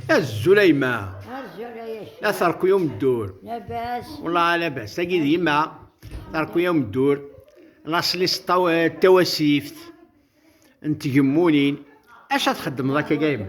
Azul a yemma. Azul a yemma. La terku yom ddur. Labas. Wala labas. Tagi d yemma. Terku yom ddur. La slis tawasift. N tgemmunin. Acu ad txeddmeḍ akka a yemma?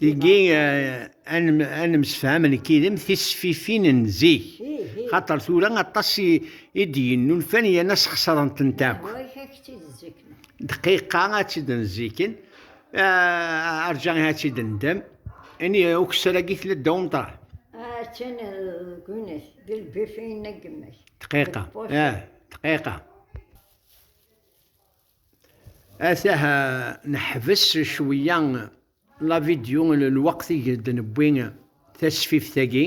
Tigi eh, ad nemsefham nekk yid-m tisfifin n zik, xaṭer tura aṭas i d-yennulfan yerna sxesrent-tent akk. Dqiqa ad tt-id-nziken, eh, arǧa ad tt-id-ndem, ini ukessar-agi tella ddaw umṭar. Attan ah, deg unak, d lbifin n gma-k. Dqiqa, eh, dqiqa. Atah neḥbes cwiya la vidéo n lweqt i d-newwi tasfift-agi.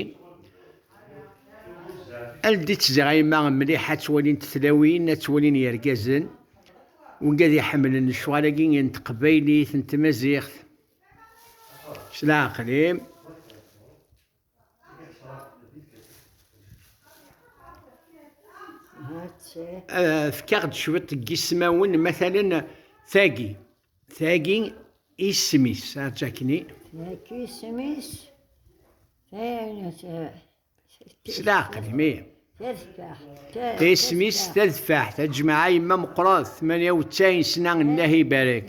Ldit zzɛima mliḥ ad twalint tlawin, ad twalin yergazen, wigi ad iḥemmlen lecɣal-agi n teqbaylit, n tmaziɣt. S leɛqel-im. Fkaɣ-d cwiṭ n yismawen, matalen tagi, tagi isem-is, ačakni. Tagi isem-is, s leɛqel, mi. Isem-is tadfaḥt, aǧmaɛ yemma meqqret, tmanya u tsaɛin sna, llahi ibarek.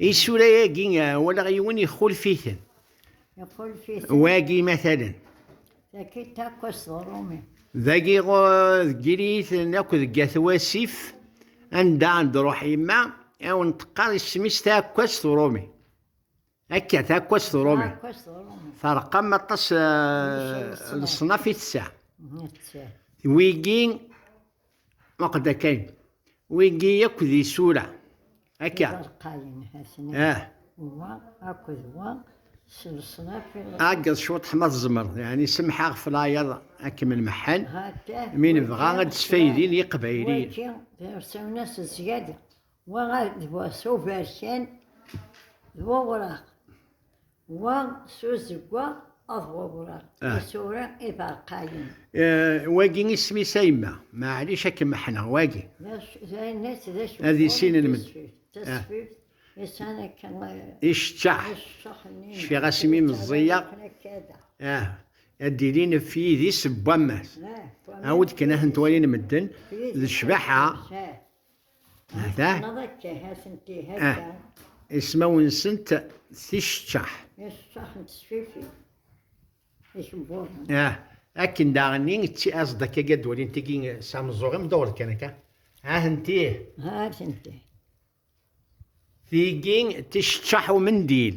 Isura-agi walaɣ yiwen ixulf-iten. Ixulf-iten. Wagi matalen. Dagi akk asḍerumi. Dagi deg yiriyiten akk deg at wasif anda ad d-ruḥ yemma awen teqqar isem-is taɛekkazt uṛumi. Akka, taakwas d uṛumi. Terqam aṭas leṣnaf i tessa. Wigi, waqd akayen, wigi akk d isura. Akka. Ah. Wa akked wa s leṣnaf. Ɛeggeḍ cwiṭ ma tzemreḍ, yani semḥeɣ ɣef layaḍ ad kem-nmeḥḥen, mi nebɣa ad d-sfaydin yiqbayliyen. Wagi, d irsawen-as zzyada. Wa d bu s uberkan d wewraq, wa s uzeggaɣ d wewraq, ah. isura iberqayen. Eh, wagi isem-is a yemma, maɛlic ad kem-ḥneɣ, wagi. Ad issinen med. Tasfift, isan akka... Eh, Iceččaḥ. Cfiɣ asmi meẓẓiyeɣ. Ah, ad d-ilin f yidis n wammas. Awed kan ahen-twalin medden, d cbaḥa. Neɣ akka, atenti akka. Ah, ismawen-nsent ticeččaḥ. Ticeččaḥ n tesfifi. Ikebbuḍen. Ah, akken daɣenni tt-aẓ-d akka ad d-walin tigi s ameẓẓuɣ-im dduɣ kan akka. Atenti. Atenti. Tigi ticeččaḥ umendil.